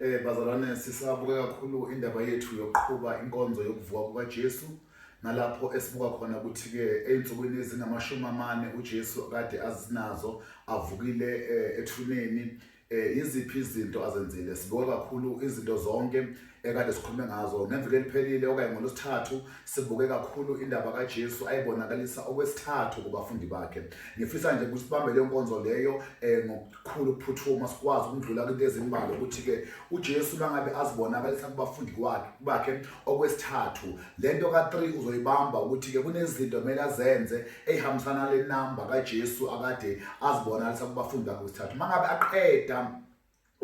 Eh bazalwane sisabuke kakhulu indaba yethu yokuqhuba inkonzo yokuvuka kukaJesu nalapho esibuka khona ukuthi ke einsukwini ezingamashumi amane uJesu kade azinazo avukile eh, ethuneni eh iziphi izinto azenzile sibuka kakhulu izinto zonke ekade sikhulume ngazo ngeviki eliphelile okanye ngolosithathu sibuke kakhulu indaba kaJesu ayibonakalisa okwesithathu kubafundi bakhe ngifisa nje ukuthi sibambe le nkonzo leyo eh, kukhulu ukuphuthuma sikwazi ukudlula kwinto ezimbalwa ukuthi-ke ujesu uma ngabe azibonakalisa kubafundi bakhe okwesithathu le nto ka-three uzoyibamba ukuthi-ke kunezinto kumele azenze eyihambisana le namba kajesu akade azibonakalisa kubafundi bakhe okwesithathu uma ngabe aqeda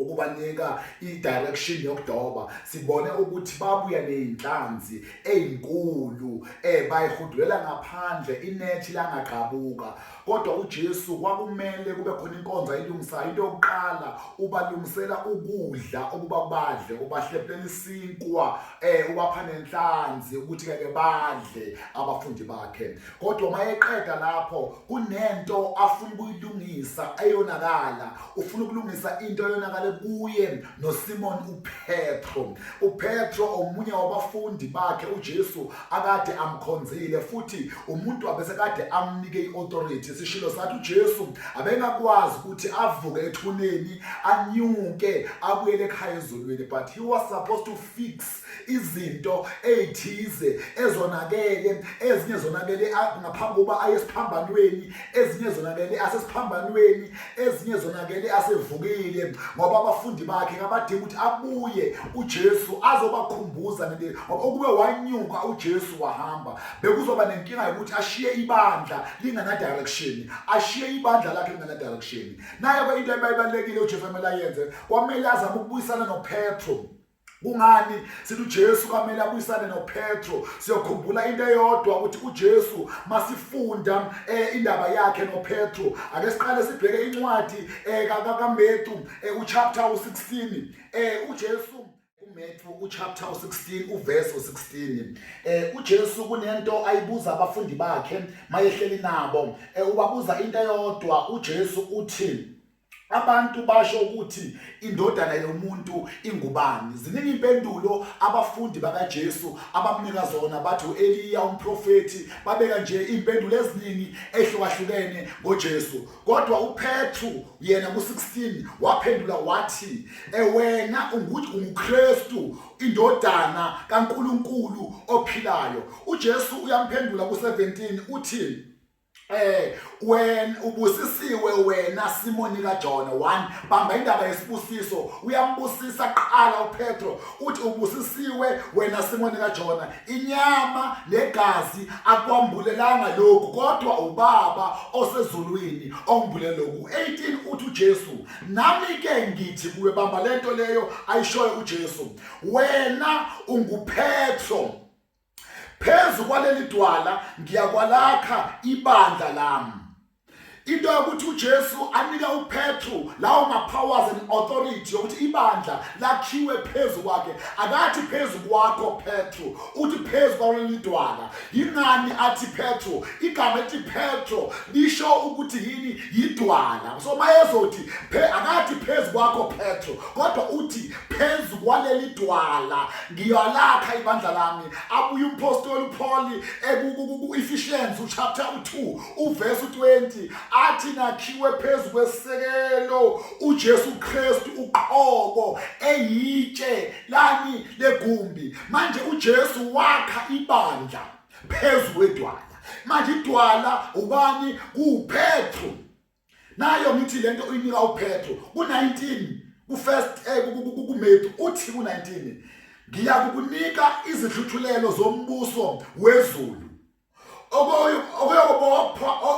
ukubanika i-direction yokudoba sibone ukuthi babuya ney'nhlanzi ey'nkulu um eh, bayihudulela ngaphandle inethi langagqabuka kodwa uJesu kwakumele kube khona inkonzo ayilungisayo into yokuqala ubalungisela ukudla ukuba badle ubahleplela isinkwa eh ubapha nenhlanzi ukuthi keke badle abafundi bakhe kodwa mayeqeda lapho kunento afuna ukuyilungisa eyonakala ufuna ukulungisa into eyonakale kuye noSimon uPetro. UPetro omunye wabafundi bakhe uJesu akade amkhonzile futhi umuntu wabese kade amnike iauthority. Sishilo sathi uJesu abengakwazi ukuthi avuke ethuneni anyuke abuyele ekhaya ezulwini but he was supposed to fix izinto ezithize ezonakele ezinye zonakele ngaphambi kokuba aye esiphambanweni ezinye zonakele asesiphambanweni ezinye zonakele asevukile ngoba abafundi bakhe ngabadinga ukuthi abuye uJesu azobakhumbuza nende okube wanyuka uJesu wahamba bekuzoba nenkinga yokuthi ashiye ibandla lingana direction ashiye ibandla lakhe lingana direction naye into ebayibalekile uJesu amele ayenze kwamele azama ukubuyisana noPetro kungani sithi uJesu kwamele abuyisane noPetro siyokhumbula into eyodwa ukuthi uJesu masifunda eh, indaba yakhe noPetro ake siqale sibheke incwadi eh, kaMetu eh, uchapter 16 eh, uJesu uMetu uchapter 16 uverse 16 eh uJesu kunento ayibuza abafundi bakhe mayehleli nabo eh ubabuza into eyodwa uJesu uthi abantu basho ukuthi indodana yomuntu ingubani ziningi impendulo abafundi bakaJesu abamnika zona bathi uEliya umprofeti babeka nje impendulo eziningi ehlukahlukene ngoJesu kodwa uPetru yena ku16 waphendula wathi ewena eh, unguthi unguKristu indodana kaNkuluNkulu ophilayo uJesu uyamphendula ku17 uthi Eh wena ubusisiwe wena Simoni kaJona 1 bamba indaba yesibusiso uyambusisa qala uPetro uthi ubusisiwe wena Simoni kaJona inyama negazi akwambulelanga lokhu kodwa ubaba osezulwini ongibulela lokhu 18 uthi uJesu nami ke ngithi kuwe bamba lento leyo ayishoyo uJesu wena unguPetro phezu kwaleli dwala ngiyakwalakha ibandla lami into yokuthi uJesu anika uPetru lawo ma-powers and authority yokuthi ibandla lakhiwe phezu kwakhe akathi phezu kwakho Petru uthi phezu kwaleli dwala yingani athi Petru igama ethi Petru lisho ukuthi yini yidwala so mayezothi akathi phezu kwakho Petru kodwa uthi phezu kwaleli dwala ngiyalakha ibandla lami abuye umpostoli uPaul ekuEphesians chapter 2 uverse 20 athi nakhiwe phezu kwesekelo uJesu Kristu uqobo eyitshe lani legumbi manje uJesu wakha ibandla phezu kwedwala manje idwala ubani kuPetru nayo ngithi lento uyinika uphetho ku-19 ku-first eh, kumedu uthi ku-19 ngiyakukunika izihluthulelo zombuso wezulu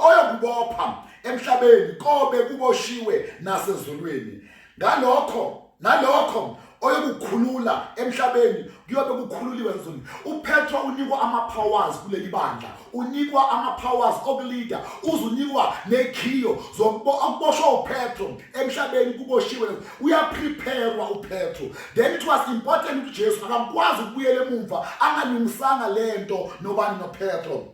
oyokubopha emhlabeni kobe kuboshiwe nasezulwini ngalokho nalokho oyokukhulula emhlabeni kuyobe kukhululiwe ezulwini uphethwa unikwa ama-powers kuleli bandla unikwa ama-powers okulida uze unikwa nekhiyo zokuboshwa uphetho emhlabeni kuboshiwe uyaprepherwa uphetho then it was important ukuthi ujesu akakwazi ukubuyela emumva angalungisanga le nto nobani nophetho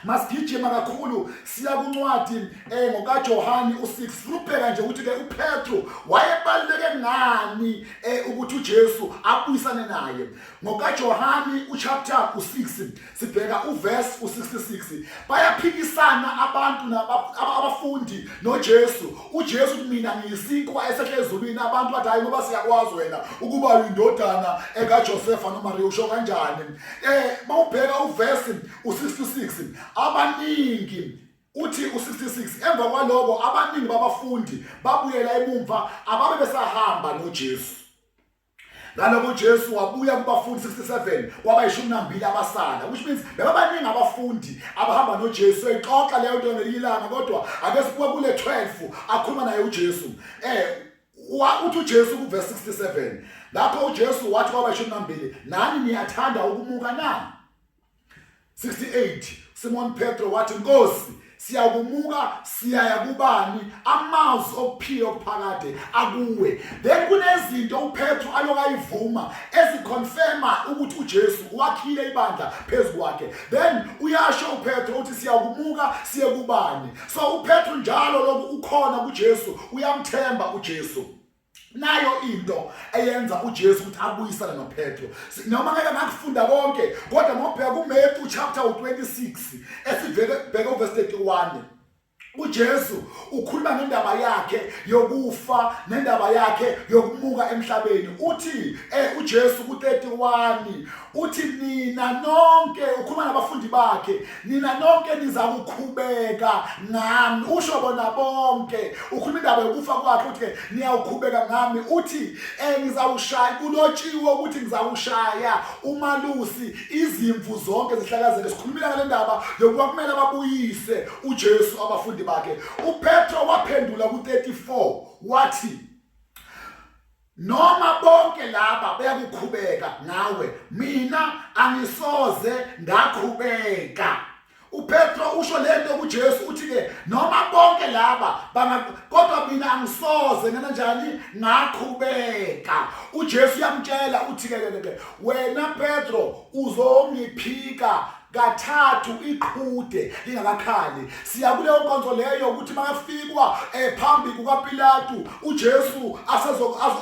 masigijima kakhulu siya kuncwadi eh ngokaJohane u6 sibheka nje ukuthi ke uPetru wayebaluleke ngani eh ukuthi uJesu abuyisane naye ngokaJohane uchapter u6 sibheka uverse u66 bayaphikisana abantu abafundi noJesu uJesu uthi mina ngiyisinkwa esehle ezulwini abantu bathi hayi ngoba siyakwazi wena ukuba uyindodana ekaJosefa noMariya usho kanjani eh mawubheka uverse u66 abaningi uthi u66 emva kwaloko abaningi babafundi babuyela emumva ababe besahamba noJesu ngaloko uJesu wabuya kubafundi 67 kwabayishumi nambili abasala which means bebabaningi abafundi abahamba noJesu exoxa leyo nto ngelilanga kodwa ake sibuke kule 12 akhuluma naye uJesu eh uthi uJesu kuverse 67 lapho uJesu wathi kwabayishumi nambili nani niyathanda ukumuka na 68 Simon Petro wathi Nkosi siyakumuka siyaya kubani amazwi okuphila okuphakade akuwe then kunezinto uPetru alokayivuma eziconfirma ukuthi uJesu wakhile ibandla phezukwakhe then uyasho uPetru uthi siyakumuka siye kubani so uPetru njalo lokhu ukhona kuJesu uyamthemba uJesu nayo into eyenza uJesu ukuthi abuyisane noPetro noma ngeke ngakufunda konke kodwa ngobheka kuMatthew chapter 26 esiveke bheka uverse 31 uJesu ukhuluma ngendaba yakhe yokufa nendaba yakhe yokumuka emhlabeni uthi eh uJesu ku31 uthi nina nonke ukhuluma nabafundi bakhe nina nonke nizakukhubeka ngami usho bona bonke ukhuluma indaba yokufa kwakhe uthi niyawukhubeka ngami uthi eh ngizawushaya kulotshiwe ukuthi ngizawushaya umalusi izimvu zonke zihlakazeke sikhulumile ngale ndaba yokuba kumele babuyise uJesu abafundi bakhe uPetro waphendula ku34 wathi noma bonke laba beyakukhubeka ngawe mina angisoze ngakhubeka uPetro usho lento kuJesu uthi ke noma bonke laba kodwa mina angisoze ngena njani ngakhubeka uJesu uyamtshela uthi ke ke wena Petro uzongiphika kathathu iqhude lingakakhali siya kuleyo nkonzo leyo ukuthi makafikwa eh, phambi kukaPilatu uJesu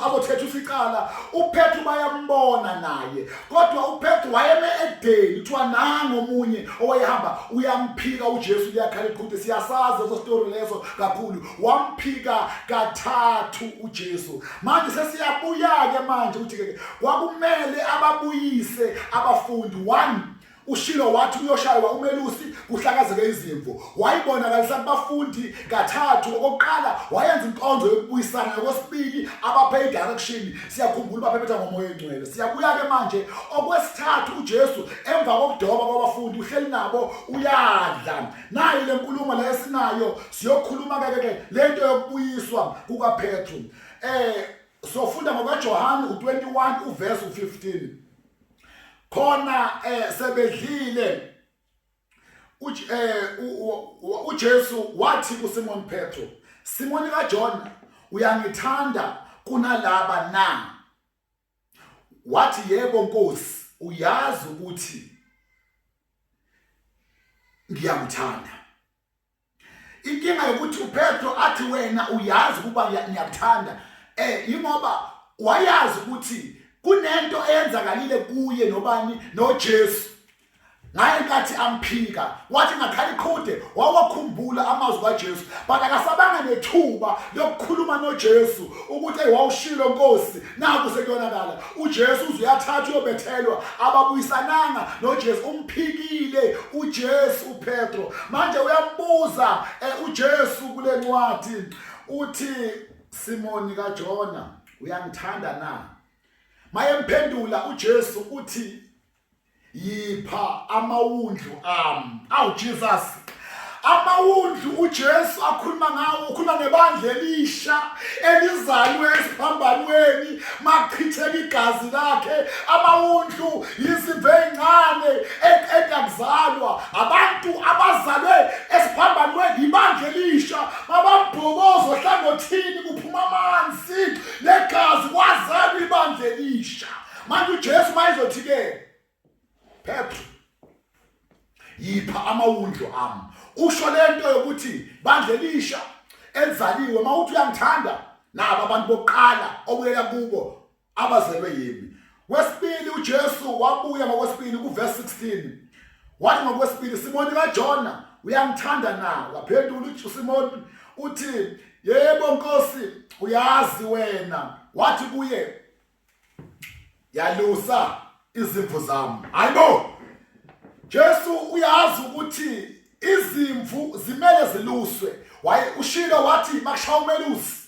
azothetha isicala uPetru bayambona naye kodwa uPetru wayeme edeni kuthiwa nango omunye owayehamba uyamphika uJesu liyakhala iqhude siyasazi leso story leso kakhulu wamphika kathathu uJesu manje sesiyabuya ke manje ukuthi ke kwakumele ababuyise abafundi one ushilo wathi uyoshaywa umelusi kuhlakazeke izimvu wayibonakalisa kubafundi kathathu okokuqala wayenza inkonzo yokubuyisana yokwesibili abaphe idirection siyakhumbula ubaphephethwa ngomoya engcwele siyabuya-ke manje okwesithathu ujesu emva kokudoba kwabafundi uhleli nabo uyadla nayo le nkulumo le esinayo siyokhuluma keke-ke le nto yokubuyiswa kukaphethu um eh, sofunda ngokajohane u-21 uvesi u-15 khona eh sebedlile eh, uJesu wathi kuSimon Petro Simoni kaJona uyangithanda kunalaba na wathi yebo Nkosi uyazi ukuthi ngiyakuthanda inkinga yokuthi upetro athi wena uyazi ukuba ngiyakuthanda eh yingoba wayazi ukuthi kunento eyenzakalile kuye nobani noJesu ngaye nkathi amphika wathi ngakhala iqhude wawakhumbula amazwi kaJesu but akasabanga nethuba lokukhuluma noJesu ukuthi wawushilo Nkosi naku sekuyonakala uJesu uze uyathatha uyobethelwa ababuyisananga noJesu umphikile uJesu uPetro manje uyambuza eh, uJesu kule ncwadi uthi Simoni kaJona uyangithanda na mayemphendula uJesu uthi yipha amawundlu ami awu Jesus amawundlu uJesu akhuluma ngawo ukhuluma nebandla elisha elizalwe esiphambanweni machitheka igazi lakhe amawundlu yizimvu ezincane eqeda kuzalwa abantu abazalwe esiphambanweni yibandla elisha mababhokozo hlangothini kuphuma amanzi negazi kwazalwa ibandla elisha manje uJesu mayezothi ke phepha yipha amawundlu ami usho lento yokuthi bandle lisha elizaliwe mawuthi uyangithanda nabo abantu bokuqala obuyela kubo abazelwe yimi wesibili uJesu wabuya ngokwesibili kuverse 16 wathi ngokwesibili Simoni kaJona uyangithanda na waphendula uSimoni uthi yebo nkosi uyazi wena wathi kuye yalusa izimvu zami hayibo Jesu uyazi ukuthi izimvu zimele ziluswe waye ushilo wathi makushawa umelusi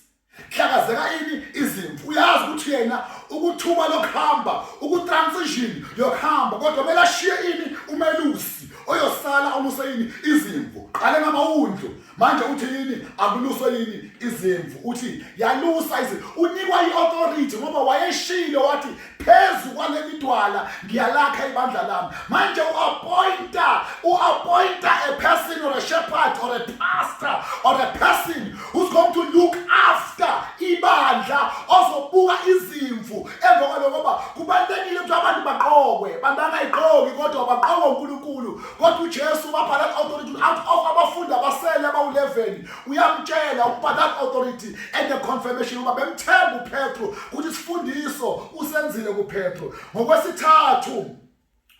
hlakazeka ini izimvu uyazi ukuthi yena ukuthuma lokuhamba ukutransition yokuhamba kodwa kumele ashiye ini umelusi oyosala omuseyini izimvu qale ngamawundlu manje uthi yini akuluswe yini izimvu uthi yalusa izi unikwa i-authority ngoba wayeshile wathi phezu kwale midwala ngiyalakha ibandla lami manje u-appointa u-appointa a person or a shepherd or a pastor or a person who's going to look after ibandla ozobuka izimvu emva kwaloko ngoba kubalulekile ukuthi abantu baqokwe abantu bangayiqoki kodwa baqokwe unkulunkulu kodwa uJesu ubapha that authority out of abafundi abasele abawu-11 uyamtshela ukuba that authority and the confirmation uba bemthemba uPetro ukuthi isifundiso usenzile kuPetro ngokwesithathu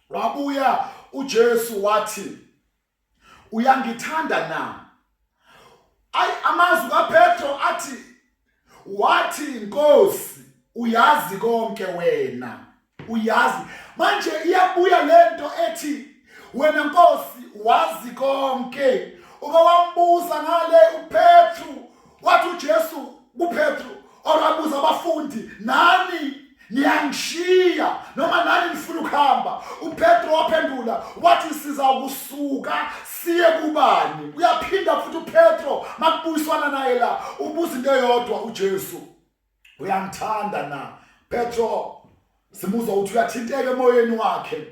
wabuya uJesu wathi uyangithanda na ayi amazwi kaPetro athi wathi inkosi uyazi konke wena uyazi manje iyabuya lento ethi wena nkosi wazi konke uba wambuza ngale uPetru wathi uJesu kuPetru orabuza abafundi nani niyangishiya noma nani nifuna ukuhamba upetro waphendula wathi siza kusuka siye kubani uyaphinda futhi upetro makubuyiswana naye la ubuza into eyodwa ujesu uyangithanda na petro simuzwa ukuthi uyathinteka emoyeni wakhe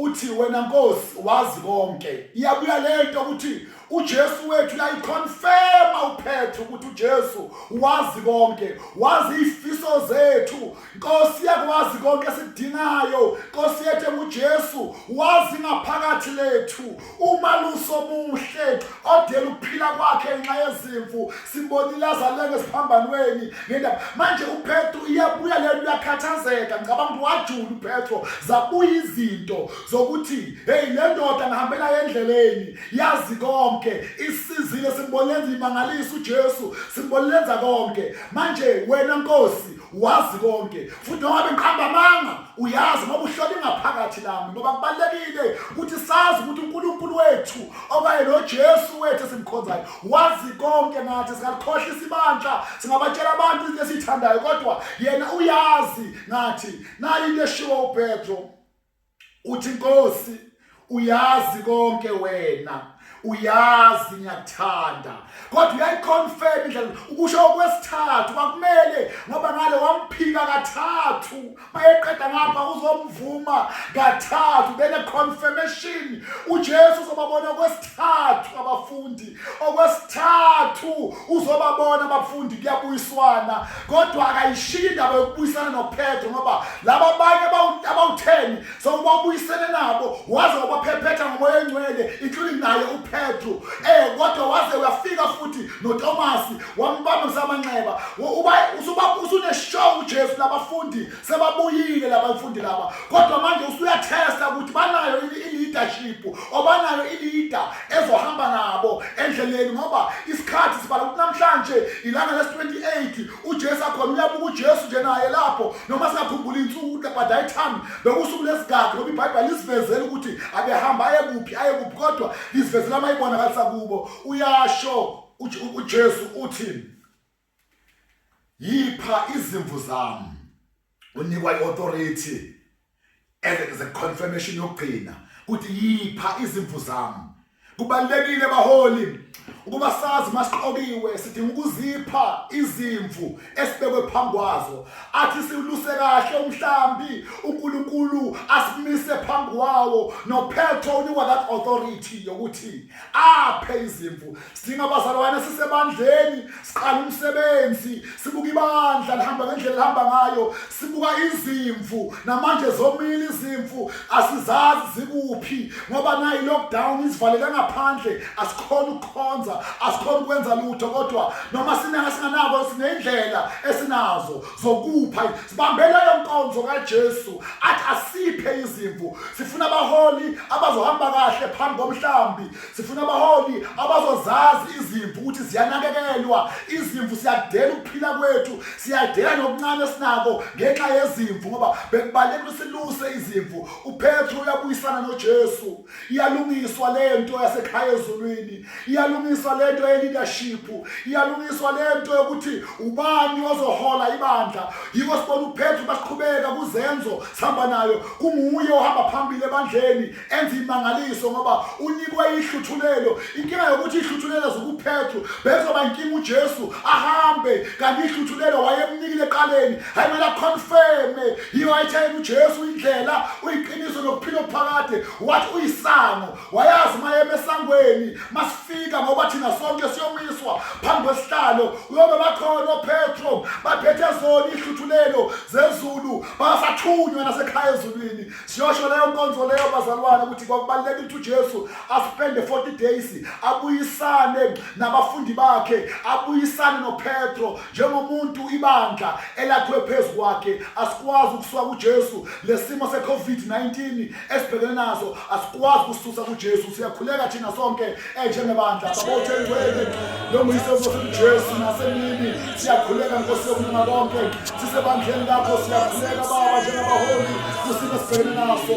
Uthi wena Nkosi wazi konke. Iyabuya lento ukuthi uJesu wethu yayiconfirma uphethe ukuthi uJesu wazi konke, wazi izifiso zethu. Nkosi yakwazi konke esidingayo. Nkosi yethu uJesu wazi ngaphakathi lethu. umalusi omuhle odela ukuphila kwakhe ngenxa yezimvu sibonile azaleke esiphambanweni ngendaba manje upetro iyabuya le nto uyakhathazeka ngicabanga ukuthi wajula upetro zabuya izinto zokuthi heyi le ndoda ngihambela endleleni yazi konke isizile simbonenza imangalisa ujesu simbolenza konke manje wena nkosi wazi konke futhi noma bengiqamba amanga uyazi ngoba uhlola ingaphakathi lami ngoba kubalulekile ukuthi sazi ukuthi uNkulunkulu wethu okanye noJesu wethu esimkhonzayo wazi konke ngathi singakhohlisa isibandla singabatshela abantu into esithandayo kodwa yena uyazi ngathi nayi into eshiwo uPetro uthi Nkosi uyazi konke wena uyazi ngiyakuthanda kodwa uyayiconfirm indlela ukusho okwesithathu kwakumele ngoba ngale wamphika kathathu mayeqeda ngapha uzomvuma kathathu then a confirmation uJesu uzobabona okwesithathu okwesithathu abafundi okwesithathu uzobabona abafundi kuyabuyiswana kodwa akayishiyi indaba yokubuyisana nophetho ngoba laba abanye abawutheni sokubabuyisene nabo waze wabaphephetha ngomoya engcwele including naye uphetro eh kodwa waze uyafika futhi notomasi wambamba ngisamanxeba usuneshow ujesu labafundi sebabuyile labafundi laba kodwa manje usuyatesta ukuthi banayo i-leadership obanayo i-leader ezohamba nabo endleleni ngoba isikhathi sibala ukuthi namhlanje ilanga lesi-28 ujesu akhona uyabuka ujesu nje naye lapho noma singakhumbula insuku ukuthi by that time bekusuku lesigadi ngoba ibhayibhela lisivezela ukuthi abehamba aye kuphi aye kuphi kodwa lisivezela amayibona kalisa kubo uyasho ujesu uthini yipha izimvu zami unikwa i-authority as a confirmation yokugcina ukuthi yipha izimvu zami kubalekile baholi ukuba sazi masiqokiwe sidinga ukuzipha izimvu esibekwe phambi kwazo athi siwuluse kahle umhlambi uNkulunkulu asimise phambi kwawo nophetho unikwa that authority yokuthi aphe izimvu sidinga abazalwane sisebandleni siqala umsebenzi sibuka ibandla lihamba ngendlela lihamba ngayo sibuka izimvu namanje zomile izimvu asizazi zikuphi ngoba nayi lockdown isivalele ngaphandle asikhona ukukhonza asikhona ukwenza lutho kodwa noma sinenge singanako sinendlela esinazo zokupha sibambeleyo nkonzo kaJesu athi asiphe izimvu sifuna abaholi abazohamba kahle phambi komhlambi sifuna abaholi abazozazi izimvu ukuthi ziyanakekelwa izimvu siyadela ukuphila kwethu siyadela nokuncane sinako ngenxa yezimvu ngoba bekubaleka usiluse izimvu uPetru uyabuyisana noJesu iyalungiswa lento yasekhaya ezulwini iyalungiswa lento ye-leadership iyalungiswa lento yokuthi ubani ozohola ibandla yiko sibona uphethu basiqhubeka kuzenzo sihamba nayo kunguye ohamba phambili ebandleni enza imangaliso ngoba unikwe ihluthulelo inkinga yokuthi ihluthulelo zokuphethu bezoba inkinga ujesu ahambe kanti ihluthulelo wayemnikile eqaleni hayi mele aconfirme yiyo ayitshela ujesu indlela uyiqiniso nokuphila okuphakade wathi uyisango wayazi mayeme esangweni masifika ngoba thina sonke siyomiswa phambi kwesihlalo uyobe bakhona opetro baphethe zona ihluthulelo zezulu basathunywa nasekhaya ezulwini siyosho leyo nkonzo leyo bazalwane ukuthi kwakubalulekile ukuthi ujesu aspende 40 days abuyisane nabafundi bakhe abuyisane nopetro Njengomuntu ibandla elakhiwe phezu kwakhe asikwazi ukusuka kuJesu lesimo seCovid-19 esibhekene naso asikwazi kususa kuJesu siyakhuleka thina sonke enjengebandla babotheli kweli lomuyise uJesu nasemini siyakhuleka Nkosi yokulunga konke sisebandleni lakho siyakhuleka baba njengabaholi kusimo esibhekene naso